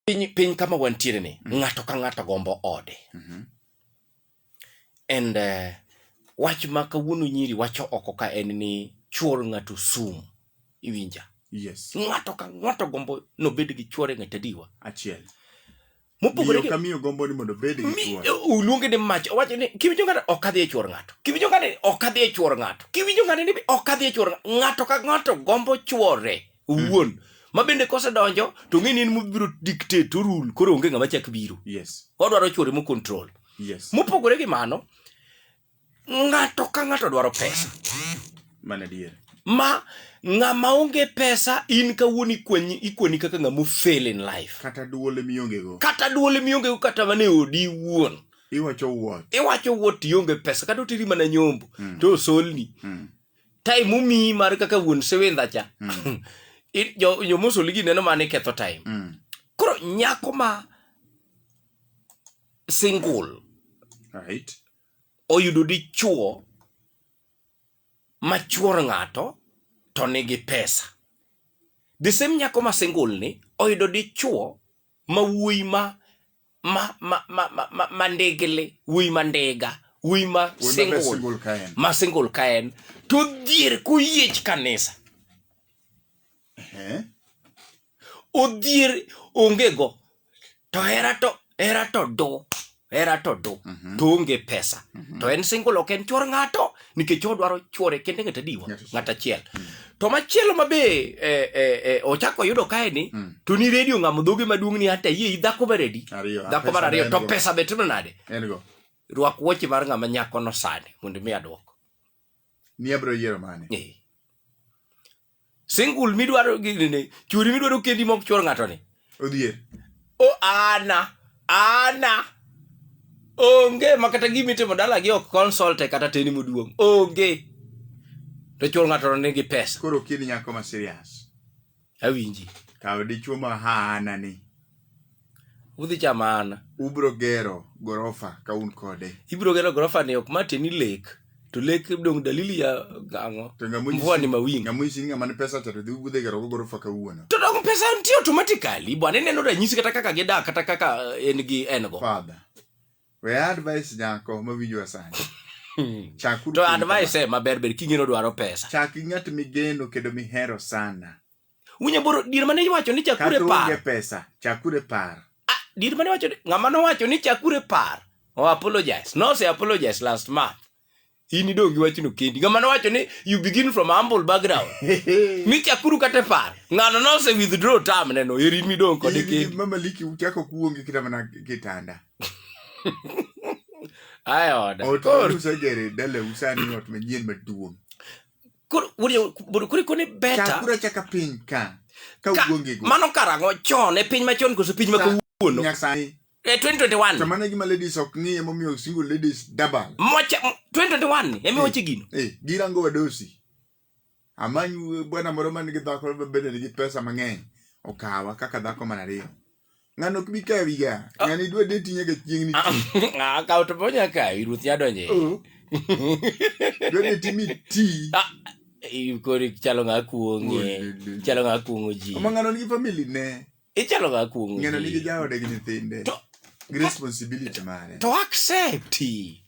piny, piny kama wantiere ni mm. ng'ato ka ng'ato gombo ode mm -hmm. and uh, wach ma kawuono nyiri wacho oko ka en ni chuor ng'ato sum iwinja yes. ng'ato ka ng'ato gombo nobed gi chuore ng'at adiwa achiel mopogore gi kamiyo gombo ni mondo obed gi chuore uluonge ni mach owacho ni kiwinjo ng'ato ok adhi e chuor ng'ato kiwinjo ng'ato ok adhi e chuor ng'ato kiwinjo ng'ato ni ok adhi e chuor ng'ato ka ng'ato gombo chuore owuon ma bende kosedonjo to ng'e ni en mobiro dictate to rule koro onge ng'ama chak biro yes odwaro chwore mo control yes mopogore gi mano ng'ato ka ng'ato dwaro pesa mana dier ma ng'ama onge pesa in kawuono ikwenyi ikweni kaka ng'ama fail in life kata duole mionge go kata duole mionge go kata mane odi wuon iwacho wuot iwacho wuot ionge pesa kata otiri mana nyombo mm. to osolni mm. time omiyi mar kaka wuon sewendha cha mm. jomosoli gi neno mane ketho time mm. koro nyako ma single right. oyudo dichuo machuor ng'ato to nigi pesa the same nyako ma single ni oyudo dichuo ma wuoyi ma ma ma ma ma, ma, ma ndigli wuyi ma ndiga wuyi ma Wuoyi ma single single ka en. ma single ka en to odhier koyiech kanisa Eh? odhier onge go to hera to hera to do hera to do to onge pesa to en single ok en chwor ng'ato nikech jehova dwaro chwore kende ng'at adiwa Ng'at achiel. ng'at achiel to machielo ma be eh, eh, eh, ochako oyudo kae ni Mm. to ni redio ng'amo dhoge maduong' ni hata yie dhako maredi Ariyo. ah, dhako mar pesa ariyo en to go. pesa be timo nade En go. rwak wuoche mar ng'ama nyakono sani mondo mi adwoko Ni abiro yiero mane? Eh. single midwaro gini churi midwaro kendi mok chwor ng'ato ni odhier o ana ana onge ma kata gima itimo dala gi ok consulte kata teni moduong onge to chwor ng'ato ni gi pesa koro kid nyako ma serious awinji kaw dichuo ma haana ni Udhi chamana. Ubro gero gorofa ka un kode. Ibro gero gorofa ni ok mate ni lek. To lek dong dalili ya ang'o? Mvua ni mawingu. Ng'amu isi ng'ama ni pesa to dhi udhi gero gorofa ka uono. To dong pesa nitie automatically. Bwana neno ranyisi kata kaka gidak kata kaka en gi en go. Father. We advice nyako mawinjo asani. Hmm. to advice eh, maber ber king'eno dwaro pesa chak gi ng'at migeno kendo mihero sana Winyo boro dir mane iwacho ni chakure Kata par. onge pesa chakure par Ah, dir mane iwacho ni ng'ama nowacho ni chakure par. O apologize. No se apologize last month. In idong' gi wachno kendi. Ng'ama nowacho ni you begin from humble background. mi chakuru kata par. Ng'ano nose withdraw term neno. Eri mi dong' kode In- in kendi. mama liki uchako kuongi kata mana kitanda Ayoda. ot Koro. usegere dala usani ot manyien maduong koro bor kuri koni beta kura chaka piny ka ka uonge go mano karango chon e piny machon koso piny ma kawuono nyasaye e 2021 to mano gima ladies ok ng'iye momiyo single ladies double mocha 2021 emi wache gino eh, eh girango wadosi amany bwana moro man gi dhako bende nigi pesa mang'eny okawa kaka dhako man ariyo ng'ano ok bi kawi ga ah. ng'ano idwa deti nyaka chieng' ni ah, ah, akawo to bonya kawi ruoth ya donje oh. dwa deti mi ti kori chalo ng'a kuong'e oh, chalo ng'a kuong'o ji ma ng'ano nigi family ne ichalo ng'a kuong'o ji ng'ano nigi jaode gi nyithinde gi responsibility mare to accept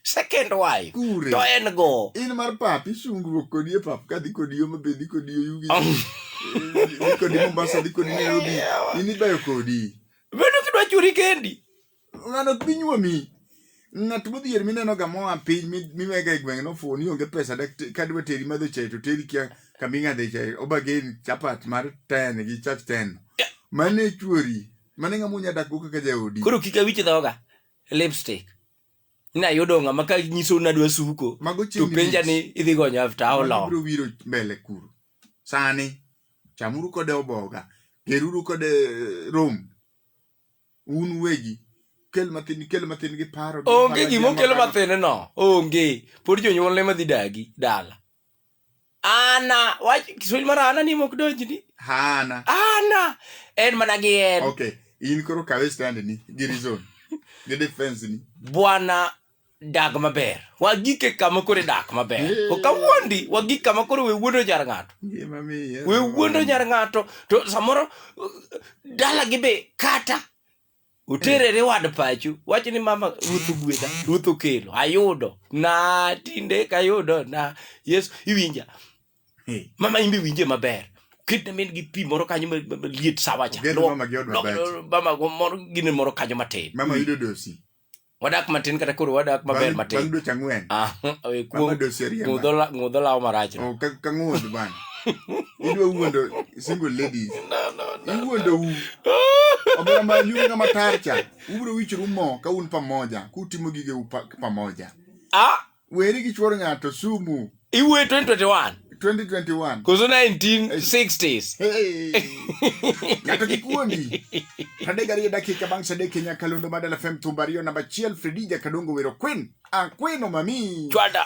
second wife Kure. to en go in mar pap isungruok kodi e pap kadhi kodi yo mabe dhi kodi yo yugi Eh, dhi kodi mombasa dhi kodi nairobi in ibayo kodi bedo kidwa churi kendi ng'ano ok bi nyuomi ng'at modhier minenoga moa piny mi- miwega e gweng' nofuwo ni onge pesa dak te- kadwa teri madho chae to teri kia kama ing'adhe chae obageni chapat mar ten gi chach ten mane chuori mane ng'ama unya dakgo kaka jaodi koro kik awich dhoga lipstick ina yudo ng'ama ka nyiso na dwa suko Mago to chieng' penja ni lich. idhi gonyo after how Mano long biro wiro mbele kuro sani chamuru kode oboga geruru kode eh, rom un wegi kel mathin kel mathin gi paro gi onge paro gima gi okelo amaparo. mathin no onge pod jonyuolne madhi dagi dala Ana, wach Kiswahili mar ana ni mok donjni. Hana. Ana en mana gi en. Okay. In koro kawe stand ni gi reason. Gi defense ni. Bwana dag maber. Wagike kama kore dak maber. Yeah. Okawuondi wagik kama kore we wuondo jar ng'ato. Ngima mi. We wuondo jar ng'ato to samoro dala gi be kata Uterere wad pachu, wach ni mama ruoth ogwedha, ruoth okelo, ayudo. Na tinde kayudo na Yesu iwinja. Hey. Mama imbe winje maber. Kitne min gi pi moro kanyo ma- ma- maliet sawa cha. Ogedho Lwok- mama gi od lwok- babati. Mama go moro gine moro kanyo matin. Mama yudo dosi. wadak matin kata koro wadak maber matin bang' dweche ang'wen ah, eh, ng'udho lawo marach oh, ka ng'udh bang' idwa wuondo single ladies iwuondo u omera ma nyume ng'ama tarcha ubiro wichru mo ka un pamoja kutimo gige u pamoja ah! weri gi chuor ng'ato sumu iwuoye 2021 2021 koso 1960s Hey. ng'ato kik wuondi tadek ariyo dakika bang' sadek e nyakalondo madala fem thumba ariyo namba achiel fredija kadongo wero kwen akweno mami chwada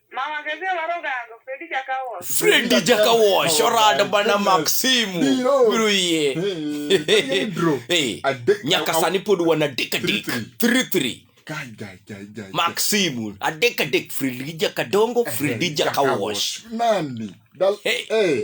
Mama kese warogango, Fredi jaka wash. fredi jaka wash orado bana mak simu Biro. biro yie Hey, bro. Hey, Adek- nyaka sani pod wan adek adek Three, three three Guy, guy, guy, guy. mak simu adek adek fredi jaka dongo fredi jaka wash Nani? Dal- Hey. Eh,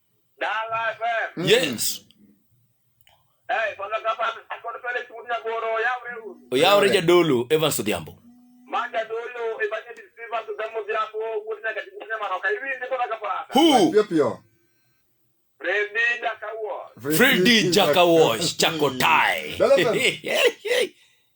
Mm. Yes. Eh, oyawre jadolo Evans Odhiambo. Fredi Jaka Wash Chako Tai.